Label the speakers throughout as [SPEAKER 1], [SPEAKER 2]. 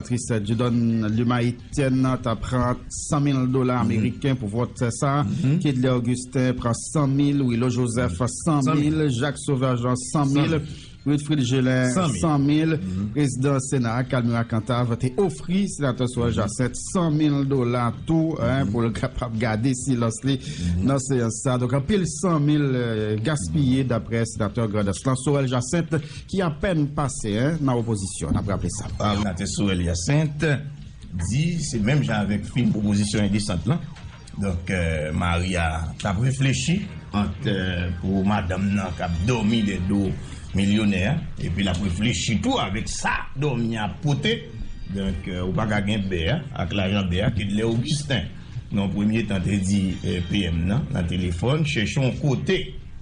[SPEAKER 1] Tris Dieudonne Lumaytienne nan ta pran 100 mil dola ameriken pou vòt sa, Kedley Augustin pran 100 mil, Willo Joseph 100 mil, Jacques Sauveur Jean 100 mil, Wilfrid Gelin 100 mil. Prezidan Sena a, Calmira Cantave te ofri Senatè Sorel Jacinthe 100 mil dola tou pou l kapab gade silans li nan seyans sa. Donk anpil 100 mil gaspiye daprè Senatè Grandans lan Sorel Jacinthe. Ki apèn pase 1 nan opozisyon, n ap raple sa. Òdinatè Sorel
[SPEAKER 2] Hyacinthe di se menm jan avèk fim pwopozisyon endesant lan, donk mari a t ap reflechi ant pou madanm nan k ap dòmi dè do milyonè a epi l ap reflechi tou avèk sa dòmi a ap pote, donk ou pa ka gen bè a ak lajan bè a, Kedlè Augustin. nan yon premye tan te di PM nan nan telefòn chèche yon kote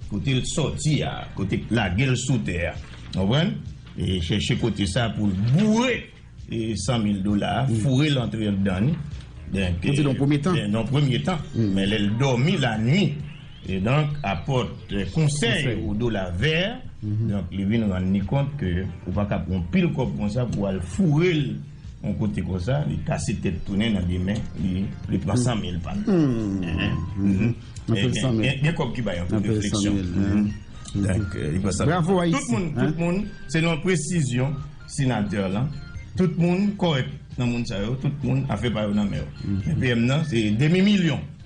[SPEAKER 2] kote l sòti a, kote k lage l sou tè a, w konprann, chèche kote sa pou l boure 100 mil dola a, foure l antre anndan li, donk, nan yon
[SPEAKER 1] premye tan,
[SPEAKER 2] men lè l dòmi lanui, donk apòt konsèy ou dola vè, donk li vin rann li kont ke ou pa ka pran pil kòb konsa pou al foure l. Yon kote konsa li kase tèt tounen nan demen li pran 100 mil pa l. Gen kòb ki bay anpil refleksyon. Bravo
[SPEAKER 1] Ayiti. Tout moun
[SPEAKER 2] selon presizyon senatè lan tout moun kòrèk nan moun sa yo tout moun afè pa yo nan men yo. PM nan se demi milyon.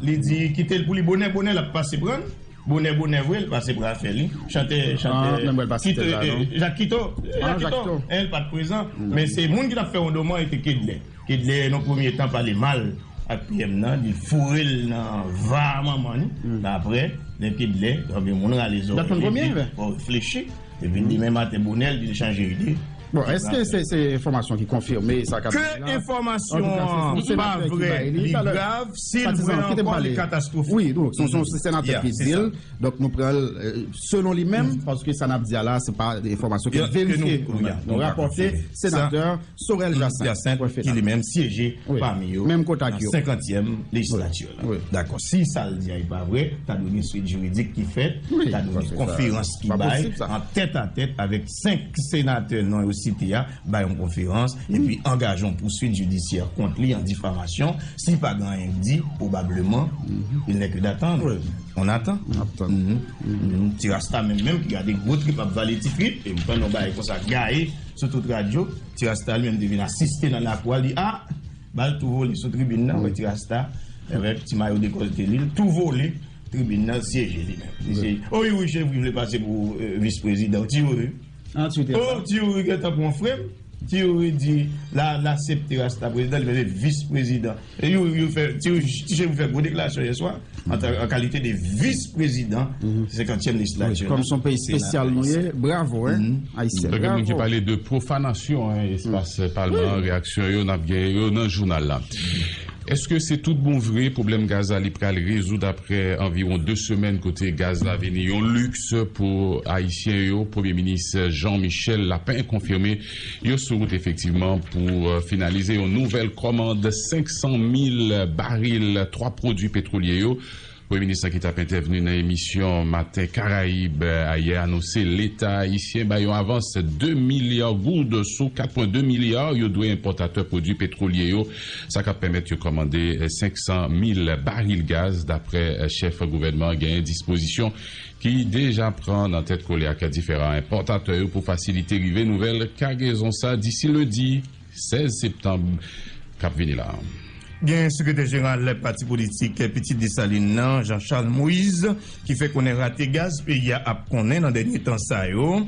[SPEAKER 2] Li di kite l pou li bonè bonè l ap pase pran l bonè bonè vre l pase pran afè li chantè chantè jak kito el pat prezan men se moun ki t ap fè yon doman e te kedlè kedlè nan premye tan pale mal ak pyèm nan li foure l nan va manman li men aprè lè kedlè moun rale zòrèy li flechi epi demen maten bonè l di l chanje ide. Bon eske se
[SPEAKER 1] se enfòmasyon ki konfime sa kap di la? Ke enfòmasyon
[SPEAKER 2] an pa vrè li grav sil vrè ankò li katastwofik. Wi donk se yon
[SPEAKER 1] senatè ki dil donk nou pran l selon li menm paske sa nap di a la se pa enfòmasyon ke nou verifye nou rapòte senatè Sorel Jacinthe ki li menm syeje
[SPEAKER 2] pami yo nan 50èm lejislati yo la dakò si sa l di a e pa vrè ta dwe gen swit jiridik ki fèt ta dwe gen konferans ki bay an tèt a tèt avèk 5 senatè non yo site a bay yon konferans epi angaje yon pouswit jidisyè kont li an difamasyon si pa gen anyen k di pwobableman il n'est que d'attendre on attend ti rasta menm menm ki gade gwo trip ap vale ti trip e m tann yon bagay konsa gaye sou tout radyo ti rasta li menm te vin asiste nan lakou a li a bal tou vole sou tribin nan wè ti rasta avèk ti mayo dekolte li l tou vole. Tribin nan syeje li menm. Li se oh youri chevri vle pase pou vis prezidan ti youri oh ti youri gentan pwan frem ti youri di la la septe rasta prezidan li mete vis prezidan e youri yo fè ti chevri fè gwo deklarasyon yè swa an kalite de vis prezidan senkantyèm lejislatur nan kòmson peyi spesyal
[SPEAKER 1] nou ye bravo he ayisyen bravo gen moun ki pale de
[SPEAKER 3] profanasyon espas palman reyaksyon yo nap gen yo nan jounal la. Eske se tout bon vre pwoblèm gaz la li pral rezoud aprè anviwon 2 semèn kote gaz la vini yon liks pou ayisyen yo? Premye minis Jean Michel Lapin konfime yo sou wout efektivman pou finalize yon nouvèl kòmand 500 mil baril 3 pwodui petwolye yo. Premye minis la ki tap entèvni nan emisyon Matin Caraïbes ayè anonse leta ayisyen bay yon avans 2 milya goud sou 4 pwen 2 milya yo dwe enpòtatè pwodwi petwolye yo, sa kap pèmèt yo kòmande 500 mil baril gaz daprè chèf gouvènman an genyen dispozisyon ki deja pran nan tèt kole ak diferan enpòtatè yo pou fasilite rive nouvèl kagezon sa disi lendi. 16 septanb k ap vini la a. Gen sekretè
[SPEAKER 2] jeneral pati politik pitit Desalin nan, Jean Charles Moïse, ki fè konnen rate gaz peyi a ap konnen nan dènye tan sa yo,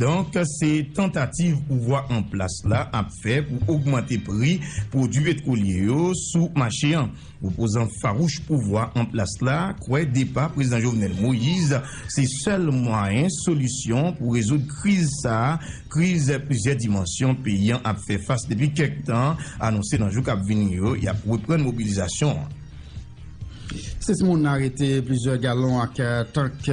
[SPEAKER 2] donk se tantativ pouvwa an plas la ap fè pou ogmante pri pwodui petwolye yo sou mache an. Opozan fawouch pouvwa an plas la kwè depa Prezidan Jovenel Moise se sèl mwayen solisyon pou rezoud kriz sa, kriz plizyè dimansyon peyi an ap fè fas depi kèk tan, anonse nan jou k ap vini yo y ap reprann mobilizasyon an.
[SPEAKER 1] 6 moun arete, plizyè galon ak tank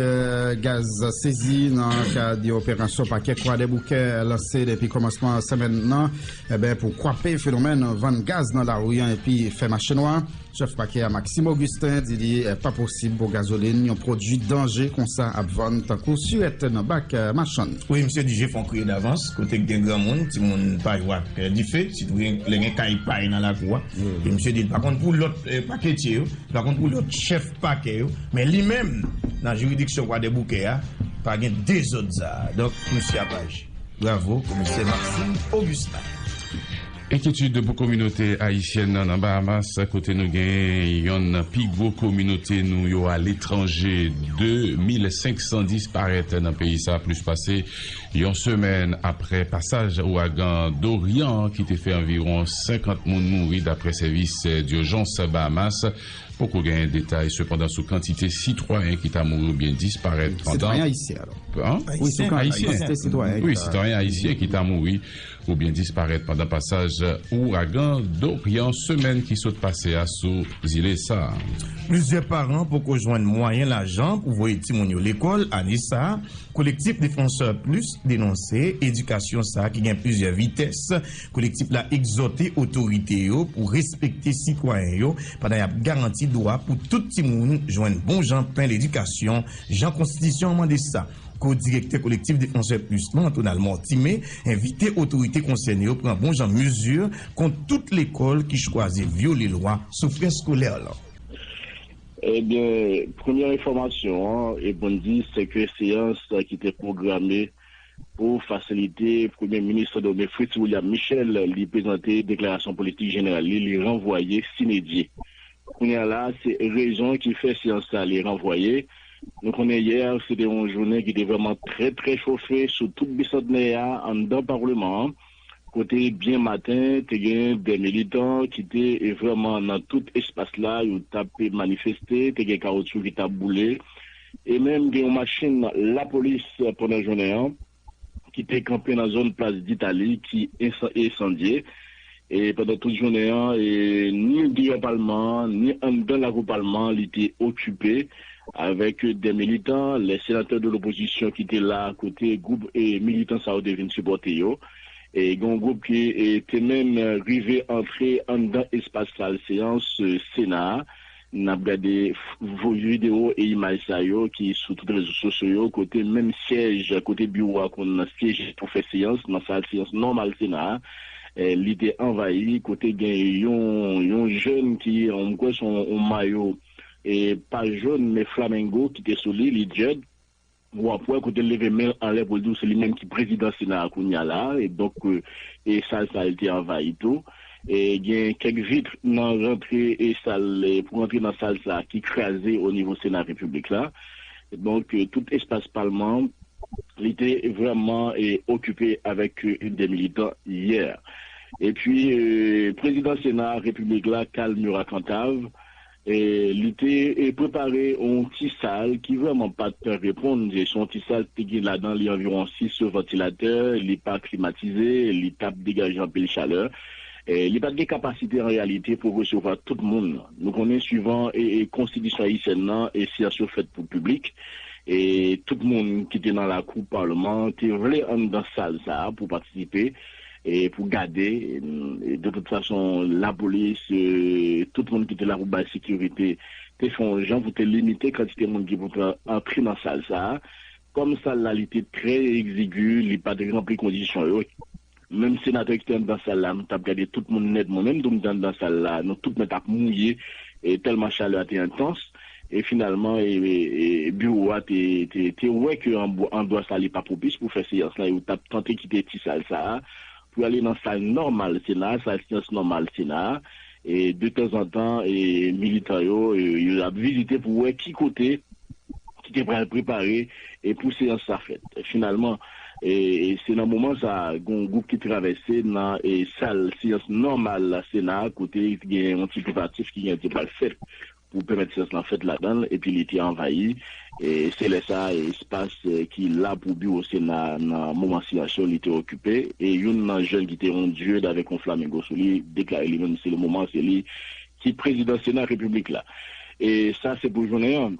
[SPEAKER 1] gaz sezi nan kad yon operasyon pakè Kwadèboukè lanse depi kòmansman semèn nan Enben, pou kwape fenomèn vann gaz nan lari an epi fè mache nwa, chèf pakè a Maxime Augustin di li pa posib pou gazolin, yon pwodui danje konsa ap vann tankou surèt nan bak machann. Wi, misye di je fon
[SPEAKER 2] kriye davans, kote k gen granmoun, timoun pa jwe ak dife, sitou gen lè gen kay pay nan lakou a. E misye di li pa konn pou lòt paketye yo, li pa konn pou lòt chèf pakè yo, men li menm nan jiridiksyon Kwadèboukè a pa gen dezòd sa a. Donk, misye ap aji. Bravo komisè Maxime Augustin.
[SPEAKER 3] Enkyetid pou kominote ayisyèn nan nan Bahamas kote nou gen yonn nan pi gwo kominote nou yo aletranje. 2 mil 500 disparèt nan peyi sa plis pase yon semèn apre pasaj ouragan Dorian ki te fè anviwon 50 moun mouri dapre sèvis diojans Bahamas. Poko genyen detay sepandan sou kantite sitwayen ki ta mouri oubyen disparèt pandan
[SPEAKER 1] Sitwayen ayisyen
[SPEAKER 3] ki ta mouri oubyen disparèt pandan pasaj ouragan Dorian semèn ki sot pase a sou zile sa a. Plizyè paran
[SPEAKER 2] poko jwenn mwayen lajan pou voye timoun yo lekòl ane sa a. Kolektif Défenseurs Plus denonse edikasyon sa a ki gen plizyè vitès. Kolektif la egzòte otorite yo pou respekte sitwayen yo pandan y ap garanti dwa pou tout timoun jwenn bon jan pen ledikasyon jan konstitisyon an mande sa. Ko-direktè Kolektif Défenseurs Plus lan, Antonal Mortimé, envite otorite konsène yo pran bon jan mezi kont tout lekòl ki chwazi vyole lwa sou frè skolè lan.
[SPEAKER 4] Ebyen, premyè enfòmasyon an, e pou n di, se ke seyans ki te pwograme Pou fasilite Premye Minis Sendomeng Fritz William Michel li prezante deklarasyon politik jeneral li, li ranvwaye sine die. Kounye a la, se rezon ki fè seyans sa li ranvwaye. Nou konnen yè se te yon jounen ki te vrèman trè trè chofe sou tout Bisantnè a anndan Parleman an. kote byen maten te gen dè militan ki te vrèman nan tout espas la, yo t ap manifeste, te gen kawotyou ki t ap boule e menm gen yon machin lapolis pandan jounen an ki te kanpe nan zòn plas Ditali ki ensandye e pandan tout jounen an ni deyò palman an ni anndan lakou palman an li te okipe. Avèk de militan, lè senatè de lopozisyon ki te la kote gwoup militan sa yo te vin sipòte yo, e gen yon gwoup ki te menm rive antre anndan espas sal seyans sena a, n ap gade videwo e imaj sa yo ki sou tout rezo sosyo yo kote menm syèj kote biwo a konn syeje pou fè seyans nan sal seyans nòmal sena a, li te anvayi kote gen yon jèn ki m kwè se yon mayo. e paj jòn men flamengo ki te sou li, li djèd, w ap wè kote l leve men l anlè pou l di w se li menm ki prezidan sena a kounya la a, e donk e sal sa a li te anvayi tou. E gen kèk vit nan rantre e sal pou rantre nan sal sa a ki kraze o nivo sena repiblik la. Donk tout espas palman an li te vrèman e okipe avèk de militan yè. E pi prezidan sena repiblik la Carl Murat Cantave, Li te prepare yon ti sal ki vrèman pa t reponn. Se yon ti sal ki te gen ladan li anviwon sis vantilatè. Li pa klimatize, li pa t degaje anpil chalè. Li pa t gen kapasite an reyalite pou resevwa tout moun. Nou konnen suivan konstitisyon ayisyèn nan, seyans yo fèt pou piblik. Tout moun ki te nan lakou palman an te vle anndan sal sa a pou patisipe. E pou gade, de tout fason, lapolis, tout moun ki te la pou bay sekirite, te fè yon jan pou te limite kantite moun ki pou te antre nan sal sa a. Kòm sal la li te trè egzigu, li pa te ranpli kondisyon yo. Menm senatè ki te anndan sal la, m t ap gade tout moun nèt, mwen menm tou m te anndan sal la, nou tout nèt ap mouye, tèlman chalè a te entans. e finalman biwo a te wè ke andwa sa li pa pwopis pou fè seyans la, yo t ap tante kite ti sal sa a pou ale nan sal nòmal sena a, sal seyans nòmal sena a, e de tanzantan militan yo yo ap vizite pou wè ki kote ki te pral prepare pou seyans sa fèt. Finalman se nan moman sa a gen yon gwoup ki travèse nan sal seyans nòmal sena a kote gen yon ti prepatif ki gen te pral fèt pou pèmèt syans lan fèt ladan l epi li te anvayi se lè sa a espas ki la pou biwo sena a nan moman syans yo li te okipe e youn nan jèn ki te on dieu avèk on flamingo sou li deklare li menm se le moman se li ki prezidan sena repiblik la e sa se pou jounen an.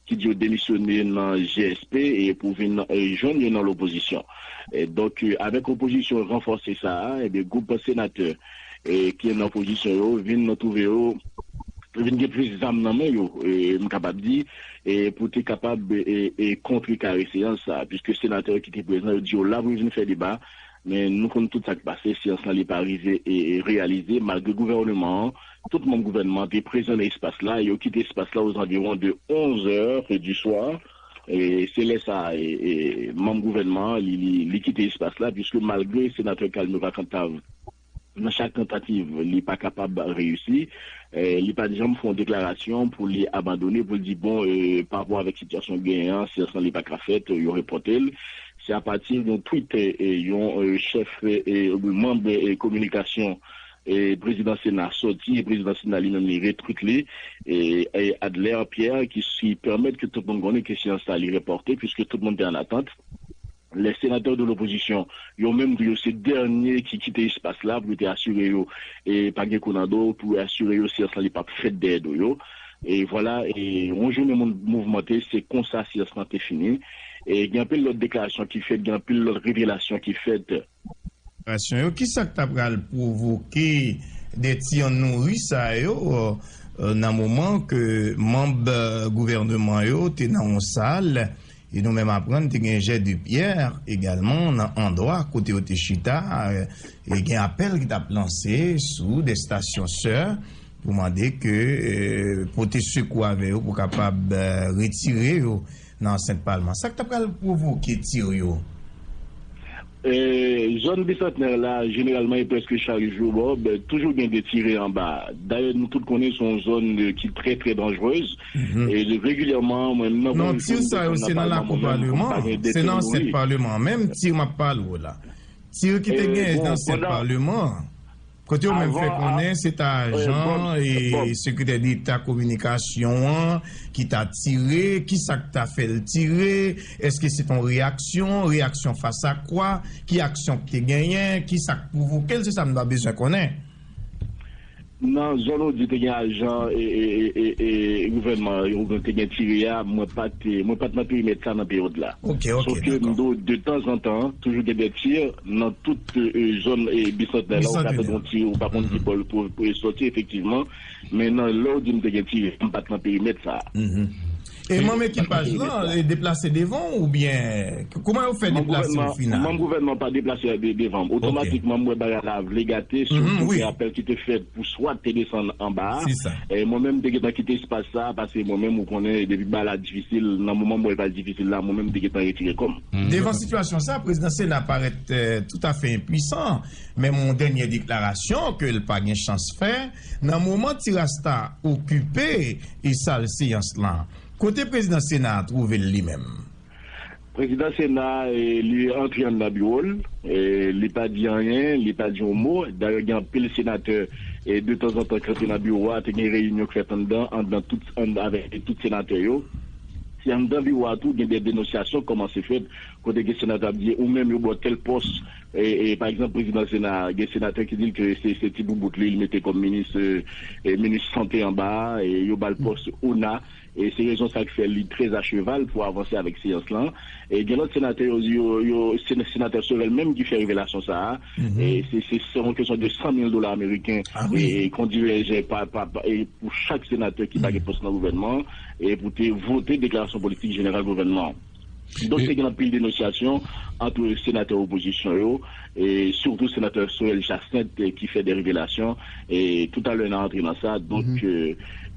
[SPEAKER 4] ki di yo demisyone nan GSP e pou vin jwenn yo nan lopozisyon. Donk avèk opozisyon ranfòse sa a, ebyen gwoup senatè ki nan opozisyon yo vin twouve yo vin gen plis zam nan men yo, m kapab di, pou te kapab kontrekare seyans sa a. Piske senatè yo ki te prezan yo di yo la pou yo vin fè deba, men nou konn tout sa k pase, seyans lan li pa rive reyalize malgre gouvèneman an, Tout manm gouvènman te prezan nan espas la e yo kite espas la ozanviwon de 11 zè du soir. Se lè sa a manm gouvènman an li kite espas la puiske malgre senatè Calme Vacant ta nan chak tantativ li pa kapab reyisi, li pat janm fè yon deklarasyon pou li abandone pou li di bon parapò avèk sitiyasyon k genyen an seyans lan li pa ka fèt yo repòte l. Se apati yon tweet yon chèf manm kominikasyon Prezidan Sena soti e Prezidan Sena li menm li retwit li Adler Pierre ki pèmèt ke tout moun konnen ke seyans sa li repòte puiske tout moun te an atant. Lè senatè de lopozisyon yo menm tou yo se dènye ki kite espas la pou yo te asire yo pa gen kou nan do pou yo asire yo seyans la li pap fèt dèyè do yo. E vwala yon jounen moun mouvmante se konsa seyans la te fini. Gen anpil lòt deklarasyon ki fèt, gen anpil lòt revelasyon ki fèt. Konsantrasyon
[SPEAKER 2] yo, kisa k ta pral pwovoke de ti an nouri sa yo nan moman ke manb gouvèneman yo te nan yon sal e nou menm aprann te gen jè de pyè egalman nan andwa kote yo te chita e gen apèl ki t ap lanse sou de stasyon sè pou mande ke pote sekou avè yo pou kapab retire yo. Nan ansent palman. Sa k ta pral pwovoke tir yo?
[SPEAKER 4] Zòn Bisantnè la, jeneralman e prèske chak jou, Bob, toujou gen de tire anba. Dayè nou tout konnen se yon zòn ki trè trè danjrez. Regilyèman, mwen menm nan gwo
[SPEAKER 2] jou m desann nan palman mwen menm pou m pa gen de tir mouri. Bon, pandan. Kote yo menm fè konnen se ta ajan sekretè deta kominikasyon an ki ta tire, kisa k ta fè l tire, èske se te yon reyaksyon, reyaksyon fas a kwa, ki aksyon ki te genyen, kisa k pwovoke l, se sa m ta bezwen konnen.
[SPEAKER 4] Nan zòn ou di te gen ajan gouvènman an yo te gen tire a, mwen pa t nan perimèt sa nan peryòd la. Sòke m di
[SPEAKER 2] w
[SPEAKER 4] de tanzantan toujou gen de tir nan tout Zòn Bisantnè la, ou ka tande yon ti, ou pa konn ki bò l soti efektivman. Men nan lè ou di m te gen ti, m pa t nan perimèt sa a. E
[SPEAKER 2] manm ekipaj lan deplase devan ou oubyen kouman yo fè deplase o final? Manm gouvènman an pa deplase
[SPEAKER 4] devan m. Otomatikman m wè bagay la vle gate sou kote apèl ki te fèt pou swat te desann anba a. Mwen menm m te gentan kite espas sa a paske mwen menm ou konnen depi bagay la difisil, nan moman m wè l pral difisil la, mwen menm m te gentan retire kò m. Devan sitiyasyon sa,
[SPEAKER 2] prezidan sena parèt toutafè enpwisan, menm yon dènyè deklarasyon ke l pa gen chans fè, nan moman ti rasta okipe sal seyans lan. Kote prezidan sena a twouve l li menm?
[SPEAKER 4] Prezidan sena a, li antre anndan biwo l, li pa di anyen, li pa di yon mo. Dayè gen anpil senatè detanzantan k antre nan biwo a, te gen reyinyon k fèt anndan, anndan tout, anndan avèk tout senatè yo. Si anndan biwo a tou gen dè denonsyasyon k kòmanse fèt, kote gen senatè ap di ou menm yo ba w tèl pòs, pa egzanp prezidan sena a, gen senatè ki di l ke se ti boubout li, li mete kòm minis minis sante anba a, yo ba l pòs ona, se rezon sa k fè li trè a cheval pou avanse avèk seyans lan. Gen lòt senatè yo, se senatè Sorel menm ki fè revelasyon sa a. Se yon kesyon de 100 mil dola ameriken kon dirèje pou chak senatè ki pa gen pòs nan gouvènman an e pou te vote deklarasyon politik jeneral gouvènman an. Donk te gen anpil denosyasyon ant senatè opozisyon yo, sitou senatè Sorel Jacinthe ki fè de revelasyon. Toutalè n a antre nan sa.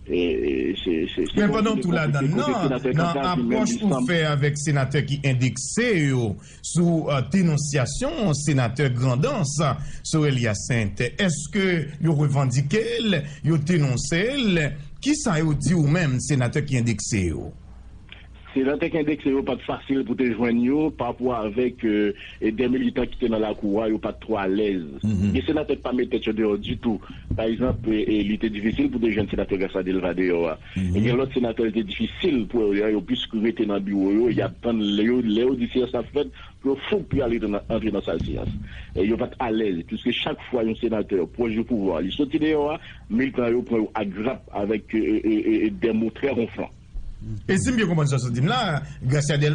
[SPEAKER 4] Men
[SPEAKER 2] pandan w tou ladann nan, nan apwòch ou fè avèk senatè ki endekse yo, Sou denonsyasyon Senatè Grandans Sorel Hyacinthe, èske yo revandike l, yo denonse l? Ki sa yo di ou menm Senatè ki endekse yo?
[SPEAKER 4] Senatè ki endekse yo pa t fasil pou te jwenn yo, parapò avèk de militan ki te nan lakou a, yo pa t twò alèz. Gen Senatè ki pa met tèt yo deyò ditou. Pa egzanp, li te difisil pou te jwenn Senatè Gracia Delva deyò a. E gen lòt senatè li te difisil pou yo yo plis rete nan biwo yo, y ap tann lè yo lè yo di seyans la fèt pou yo foup pou y al antre nan sal seyans. Yo pa t alèz piske chak fwa yon senatè pwòch de pouvwa a li soti deyò a, militan yo pran yo agrap avèk
[SPEAKER 2] dè
[SPEAKER 4] mo
[SPEAKER 2] trè wonflan.
[SPEAKER 4] E
[SPEAKER 2] si m byen konprann sa w sot
[SPEAKER 4] di m la, Gracia
[SPEAKER 2] Delva,